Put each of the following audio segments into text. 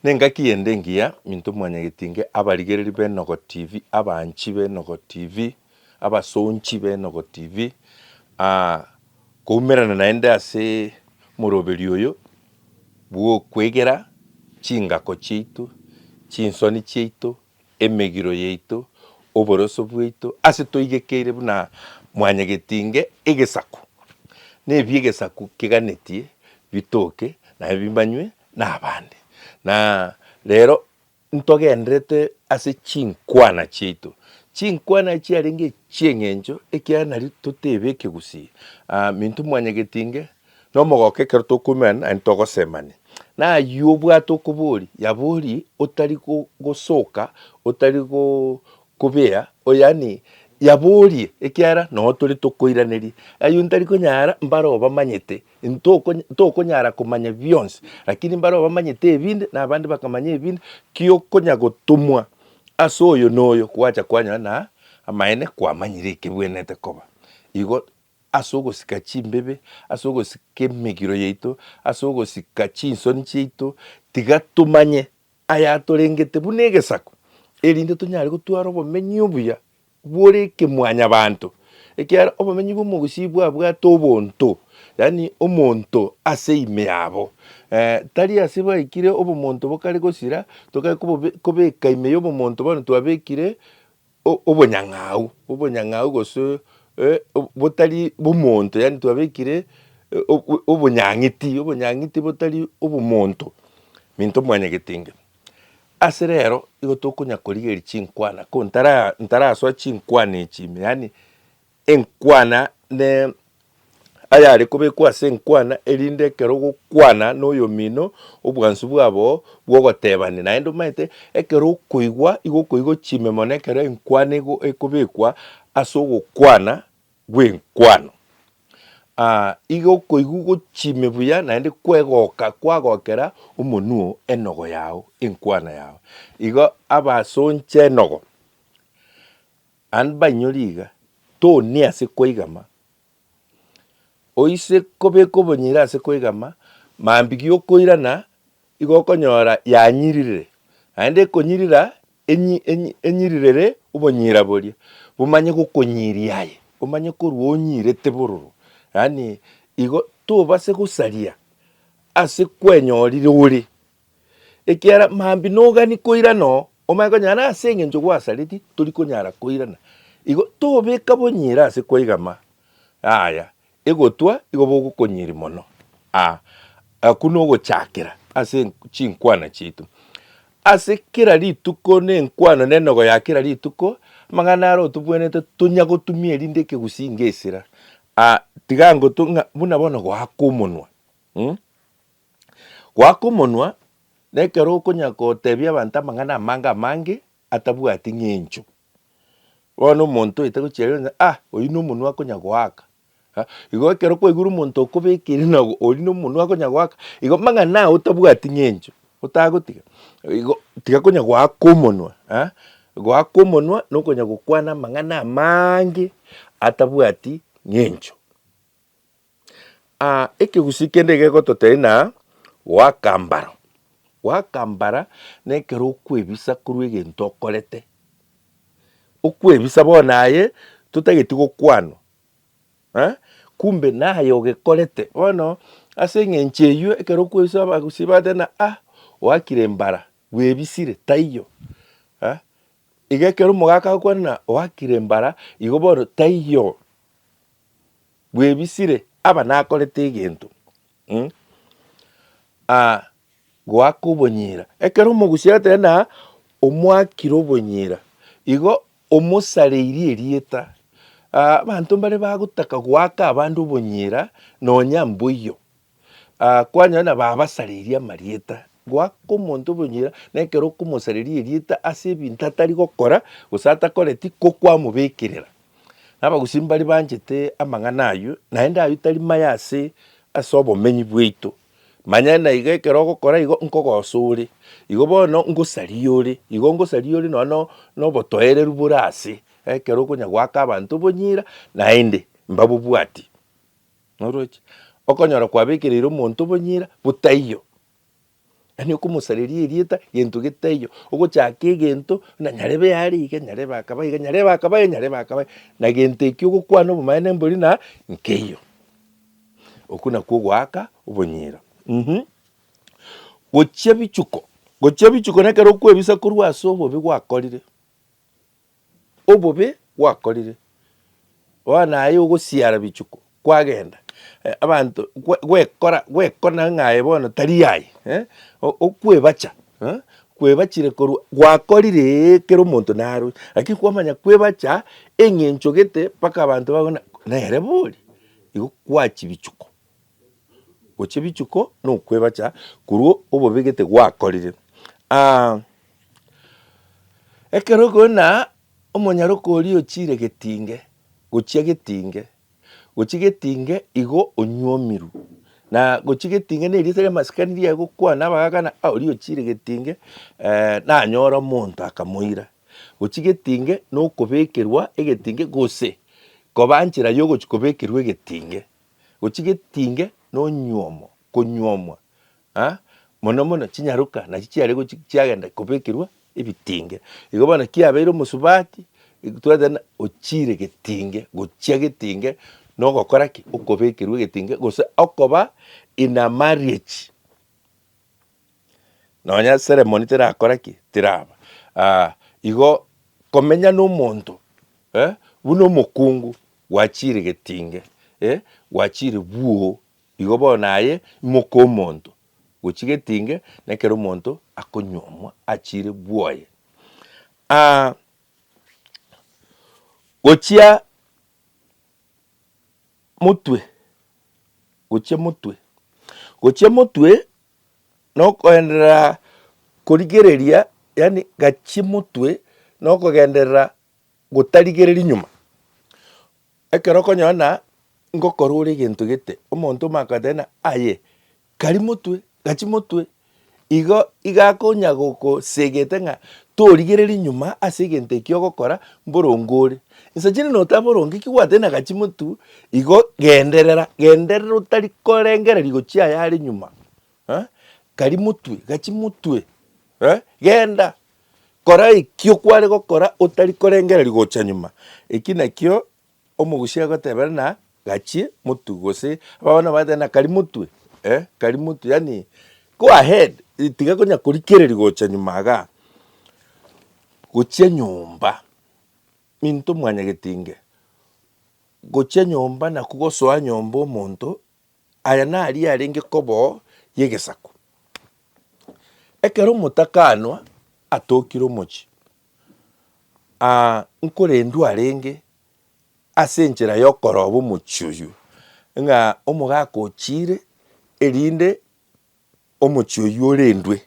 Nengaki ende engiya into mwanyagetinge abarigereri b'Enogo TV, abanchi b'Enogo TV, abasonchi b'Enogo TV, aa, koumerana naende ase omoroberi oyo bw'okwegera chingako chiaito, chinsoni chiaito, emegiro yaito, oboroso bwaito, ase toigekeire buna mwanyagetinge egesaku, na ebi egesaku keganetie bitoke naye bimanywe nabande. Na rero ntogenderete ase chinkwana chiaito, chinkwana echio chiarenge echi'eng'encho ekiagera nari totebe ekegusii, minto mwanyagetinge Nomogoka ekero tokoimerana naye ntogosemania. Na ayio obwate okobori yabori otari gosoka otari kobea yaani yaborie ekiagera noo tore tokoiraneria. Ayio ntari konyara mbare obamanyete ntokonyara komanya bionsi lakini mbare obamanyete ebinde na abande bakamanya ebinde ki okonya gotomwa ase oyo na oyo gwacha kwanyora na amaene kwamanyire ekebwenerete koba. Igo. ase ogosika chimbibe, ase ogosika emegiro yaito, ase ogosika chinsoni chiaito, tiga tomanye ayatorengete buna egesaku, erinde tonyare gotwara obomenyi obuya bore ekemwanyabanto, ekiagera obomenyi bwa omogusii bwabwate obonto, yaani omonto ase ime yabo tari ase baikire obomonto bokare gosira, tokare kobeka ime ya obomonto bono twabekire. o- obonyang'au, obonyang'au gose eh, o- botari bomonto, yaani twabekire eh, o- o- obonyang'iti, obonyang'iti botari obomonto, minto mwanyagete inge. Ase rero igo tokonya korigeria chinkwana ko ntara ntarasoa chinkwana echi ime, yaani enkwana ne ayare kobekwa ase enkwana, erinde ekero ogokwana noyomino obwansu bwabo bw'ogotebania. Naende omanyete ekero okoigwa igo okoigwa chime mono ekero enkwana ego ekobekwa ase ogokwana gw'enkwano. Igo okoigwa igo chime buya naende kwegoka kwagokera omonwe oo enogo yao enkwana yao. Igo abasonche enogo. An bainyori iga, toni ase koigama, oise kobeka obonyire ase koigama, mambi giokoirana igo okonyora yanyiririre, naende ekonyirira enyi enyi enyirirere obonyira boria, bomanye gokonyiria aye, omanye korwa onyirete bororo, yaani igo tobase gosaria ase kwenyorire ore, ekiagera mambia nogani koirana oo, omanye konyara na ase engencho gwasareti tori konyara koirana. Igo tobeka bonyira ase kwaigama yaya egotwa igo bogokonyiri mono ah, aku nogochakera ase chinkwana chiaito. Ase kera rituko ne enkwano ne enogo ya kera rituko, amang'ana are otobwenerete tonya gotumia erinde ekegusii ngesira ah, tiga ngotu ng'a buna bono goaka omonwa mm. Goaka omonwa nekero okonyara kotebia abanto amang'ana amange amange atabwati ng'encho. Bono omonto oyote gochia rero onye ah oyio nomonwa akonya goaka. Igo ekero kwaigure omonto okobekire na oyio nomonwa akonya goaka, igo amang'ana ao otabwati ng'encho otagotiga igo tiga konya goaka omonwa. Goaka omonwa nokonya gokwana amang'ana amaange atabwati ng'encho. Ekegusii kende gegototeina wakambara. Wakambara nekero okwebisa korwa egento okorete, okwebisa bono aye totageti gokwanwa eh, kumbe naye ogekorete. Bono ase eng'encho eywo ekero okwebisa abagusii bagotebi ah oakire mbara bwebisire taiyo eh, iga ekero omogaka agokwana ng'a oakire mbara igo bono taiyo. Bwebisire aba nakorete egento mm, ah, goaka obonyira. Ekero omogusi agateba na omwakire obonyira, igo omosareirie erieta. Ah, abanto mbare bagotaka goaka abande obonyira nonya mboiyo. Aa, kwanyora na babasareirie amarieta, goaka omonto obonyira, na ekero okomosareria erieta ase ebinto atari gokora, gose atakoreti, ko kwamobekerera. Na abagusii mbari banchete amang'ana ayio, naende ayio tari maya ase ase obomenyi bwaito. Manya na iga ekero ogokora igo, nkogosa ore, igo bono ngosaria ore, igo ngosaria ore nonye no- nobotoereru bore ase, ekero okonya goaka abanto obonyira, naende mbabobwati. Noroche, okonyora kwabekereire omonto obonyira botaiyo, yaani okomosareria erieta gento getaiyo, ogochaka egento buna nyarebe yare iga, nyarebe akaba iga, nyarebe akaba iga, nyarebe akaba iga, na gento ekio ogokwana obomaene mbori na nkeiyo. Okwo nakwo ogoaka obonyira um. Gochia bichuko, gochia bichuko nekero okwebisa korwa ase obobe gwakorire. obobe gwakorire, bono aye ogosiara bichuko kwagenda abanto gwekora gwekona ng'a aye bono tari aye eh, okwebacha eh, kwebachire korwa gwakorire ee kera omonto narue lakini kwamanya kwebacha eng'encho gete mpaka abanto bakobuna nere bori igo kwachi bichuko. gochia rituko na okwebacha korwa obobe gete gwakorire. Ekero okona omonyaroka oria ochire getinge, gochia getinge, gochia getinge igo onywomire na gochia getinge na erieta ria masikani ria gokwana abagakana ah oria ochire getinge nanyore omonto akamoira. Gochia getinge na okobekerwa egetinge gose koba nchera ya ogochia kobekerwa egetinge. gochia getinge nonyuomo konyuomwa ah mono mono chinyaroka nachio chiare gochi chiagenda kobekerwa ebitinge. Igo bono kiabeire omosubati twateba buna ochire getinge gochia getinge nogokora ki okobekerwa egetinge gose okoba in a marriage. nonya ceremony terakora ki? teraba. Aa igo komenya na omonto eh, buna omokungu gwachire getinge eh, gwachire bwoo, igo bono naye imoke omonto gochia getinge na ekero omonto akonyuomwa achire bwoye. Aa gochia motwe, gochia motwe, gochia motwe nokoenderera korigereria, yaani gachie motwe, nokogenderera gotarigereria nyuma. Ekero okonyora ng'a ngokorora egento gete, omonto omanye kogoteba ng'a aye kari motwe, gachi motwe, igo iga akonya gogosegete ng'a torigereria nyuma ase egento ekio ogokora mborongo ore. Inse chiri notabe boronge ki gwatene agachi motu igo genderera genderera otari korengereria gochia aya are nyuma eh, kari motwe gachi motwe eh, genda kora ekio kware gokora otari korengereria gocha nyuma eki nakio omogusia agotebera na gachi motu gose abana bagoteba na kari motwe eh, kari motwe yaani go ahead tiga konya korikereria gocha nyuma igaa gochia nyomba. Minto mwanyagetinge gochia nyomba na kogosoa nyomba omonto, aya naria arenge koboo y'egesaku. Ekero omotakanwa atokire omochie, nkorendu arenge ase enchera y'okoroba omochie oyio, ng'a omogaka ochiire erinde omochie oyio orendwe.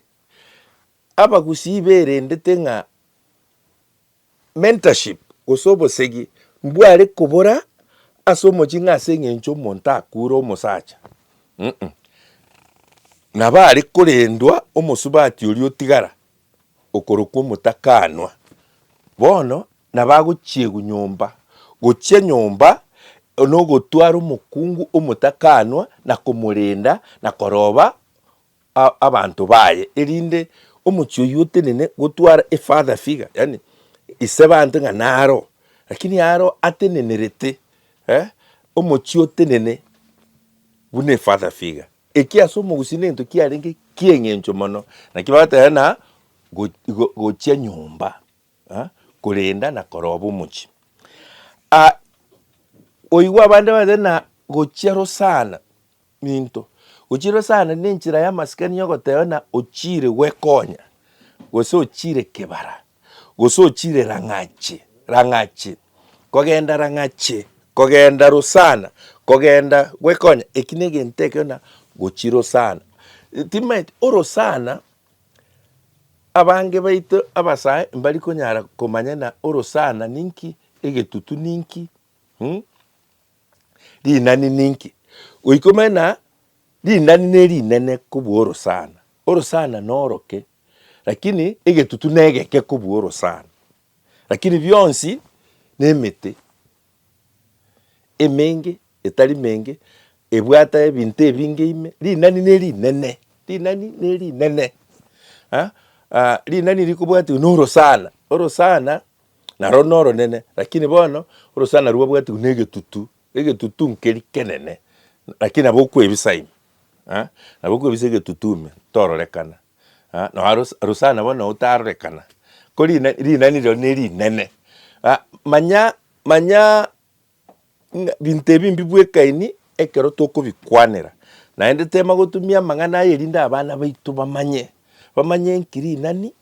Abagusii berendete ng'a. mentorship, gose obosegi mbware kobora ase omochie ng'a ase eng'encho omonto akure omosacha uh-uh, nabo are korendwa omosubati oria otigara okorokwa omotakanwa. Bono nabo agochiegwa nyomba, gochia nyomba nogotwara omokungu omotakanwa na komorenda na koroba. abanto baye, erinde omochie oyio otenene gotwara a father figure, yaani isebanto ng'a naro, lakini aro atenenerete eh, omochie otenene buna a father figure. Ekio ase omogusii nento kiarenge ki'eng'encho mono, naki bagoteberera na go- gochia nyomba, eh, korenda na koroba omochie. Ah, oigwe abande bagoteberera na gochia rosana, minto, ochiirwe sana nenchera y'amasikani y'ogoteba ng'a ochiire gwekonya, gose ochiire kebara, gose ochiire rang'ache, rang'ache, kogenda rang'ache, kogenda rosana, kogenda gwekonya, eki ne egento ekio na gochia rosana. Timanyeti orosana, abange baito abasae mbari konyara komanya ng'a orosana ninki, egetutu ninki, mmh. Rinani ninki? Goikomena rinani nerinene kobua orosana. Orosana noroke, lakini egetutu negeke kobua orosana. Lakini bionsi nemete emenge etari menge ebwate ebinto ebinge ime, rinani nerinene, rinani nerinene, rinani rikobwatiwa norosana, orosana. Narwo noronene, lakini bono orosana rwabwatigwe negetutu, egetutu nkeri kenene, lakini nabo okwebisa ime, eh, nabo okwebisa egetutu ime tororekana, eh, nonya rosa rosana bono otarorekana, kori rina rinani rirorio nerinene. Ah manya manya ng'a binto ebi mbibwekaini ekero tokobikwanera, naende tema gotumia amang'ana aya erinde abana baito bamanye, bamanye enki rinani,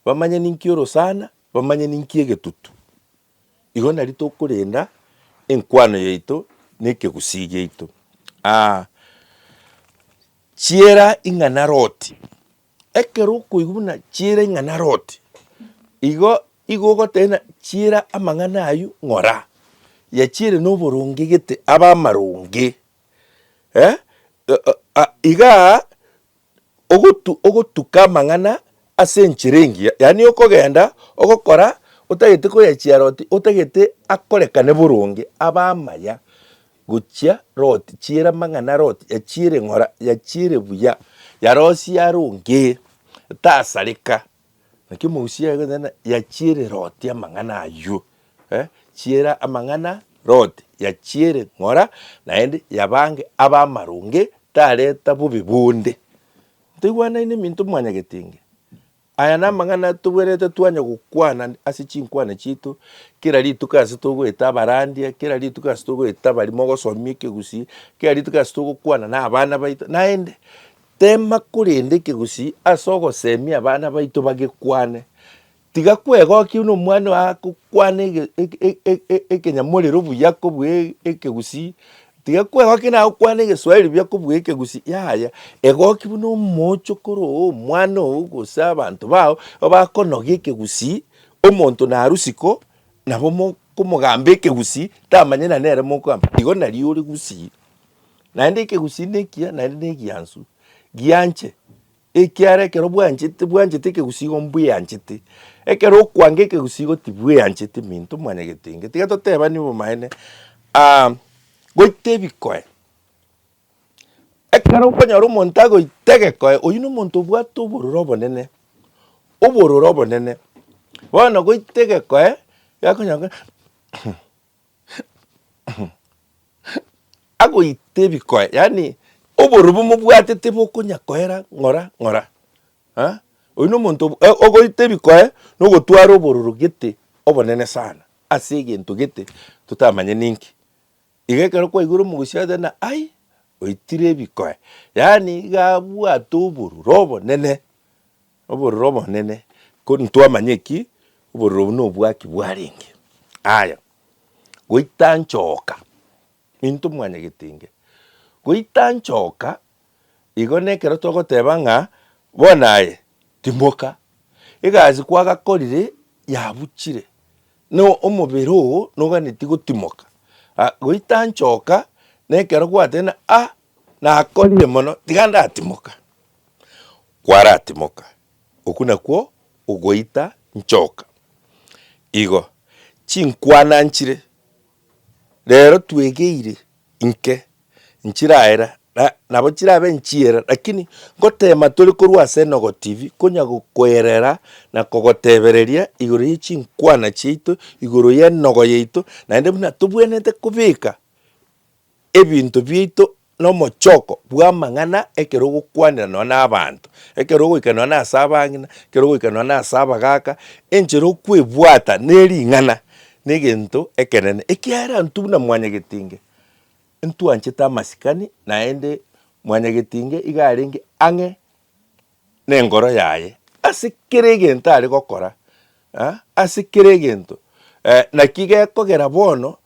bamanye ninki orosana, Bamanye ninki egetutu. Igo nari tokorenda enkwano yaito na ekegusii giaito. Aa chiera ing'ana Loti, ekero okoigwa buna chiera ing'ana Loti, igo igo ogoteba buna chiera amang'ana aywo ng'ora, yachiere na oboronge gete abe amaronge eh igaa. ogotuka amang'ana ase enchera engiya, yaani okogenda ogokora otagete koyachia roti, otagete akorekane boronge, abe amaya gochia roti, chiera amang'ana roti, yachiere ng'ora, yachiere buya, yarosie aronge, tasareka. Naki emegusii yaye egoteba ng'a yachiere Loti amang'ana aywo, eh, chiera amang'ana Loti, yachiere ng'ora naende yabange abe amaronge tareta bobe bonde. Ntoigwanaine minto mwanyagetenge, aya namang'ana tobwenerete twanya gokwana ase chinkwana chiaito, kera rituko ase togoeta abarandia, kera rituko ase togoeta abari mogosomia ekegusii, kera rituko ase togokwana na abana baito, naende Teema korende ekegusii ase ogoseemia abana baito bagekwane. Tiga kwegokia buna omwana oye agokwana ekenyamorero buya kobua ekegusii, tiga kwegokia naye agokwana egeswahili buya kobua ekegusii, yaya, egokia buna omoochokoro oo, omwana oo gose abanto bao bakonogia ekegusii, omonto narusiko nabo mokomogamba ekegusii tamanyeti na nere mokogamba igo nario ore gusii. Naende ekegusii ekiya naende negiansu, gianche, ekiara ekero bwanchete bwanchete ekegusii igo mbweanchete. Ekero okwanga ekegusii igo tibweancheti minto mwanyagetenge. Tiga totebanie obomaene, goita ebikoe, ekero okonyora omonto agoita egekoe, oyio na omonto obwate obororo obonene, obororo obonene. Bono goita egekoe, gekonyora kore. agoita ebikoe, yaani oborubu mobwate tibokonya koera ng'ora ng'ora, ah oyio na omonto ogoita ebikoe na ogotwara obororo gete obonene sana ase egento gete totamanye ninki. Iga ekero kwaigure omogosi agotebi ng'a ai oitire ebikoe, yaani iga abwate obororo obonene. Obororo obonene, ko ntwamanya eki, obororo obo nobwaki bwarenge. Aya, goita nchoka, into mwane getenge, goita nchoka igo nekero togoteba ng'a bono aye timoka, egasi kwagakorire yabuchire, no omobere oo noganeti gotimoka. A goita nchoka nekero gwateba ng'a ah nakorire mono tiga ndatimoka. kwaratimoka, okwo nakwo ogoita nchoka. Igo chinkwana nchire rero twegeire inke nchiraera na nabo chirabe nchiera lakini ngotema tore korwa ase Enogo TV konya gokoerera na kogotebereria igoro ye chinkwana chiaito, igoro ye enogo yaito naende buna tobwenerete kobeka. ebinto biaito nomochoko bw'amang'ana ekero ogokwanera nonye na abanto, ekero ogoika nonye na ase abang'ina, ekero ogoika nonye na ase abagaaka, enchera okwebwata ne ring'ana ne egento ekenene, ekiagera intwe buna mwanyagetinge, intwanchete amasikani naende mwanyagetinge iga arenge ang'e nengoro yaye ase kera egento are gokora, ase kera egento. Naki gekogera bono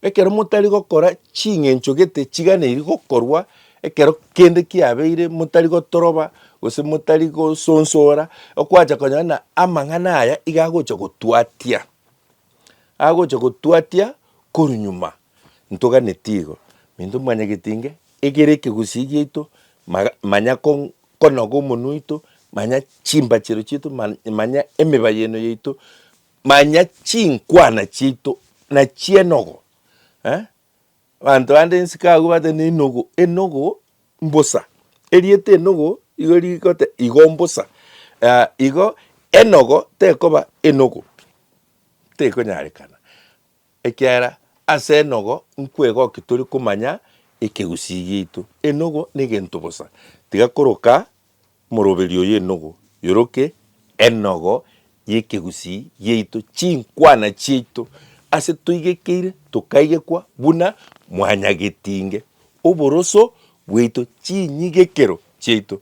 ekero motari gokora ching'encho gete chiganeri gokorwa ekero kende kiabeire, motari gotoroba gose motari gosonsora, okwancha konyora buna amang'ana aya iga agocha gotwatia. agocha gotwatia korwa nyuma ntoganetie igo, minto manye getinge egere ekegusii giaito maga manya kong konoga omonwe oito, manya chimbachero chiaito man manya emebayeno yaito, manya chinkwana chiaito nachienogo eh. Abanto bande nsiko agwo bate nenogo enogo mbosa. Erieta enogo igo rigote igo mbosa ah igo enogo tekoba enogo tekonyarekana ekiagera ase enogo nkwegoki tori komanya ekegusii giaito. Enogo na egento bosa tiga koroka. Omoroberio y'enogo yoroke enogo y'ekegusii giaito, chinkwana chiaito ase toigekeire tokaigekwa buna mwanyagetinge, oboroso bwaito chinyigekero chiaito.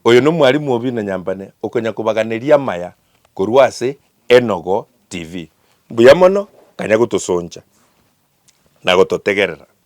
Oyo nomwalimu obi na nyambane okonya kobaganeria amaya korwa ase Enogo TV. Mbuya mono, kanya gotosoncha na gototegerera.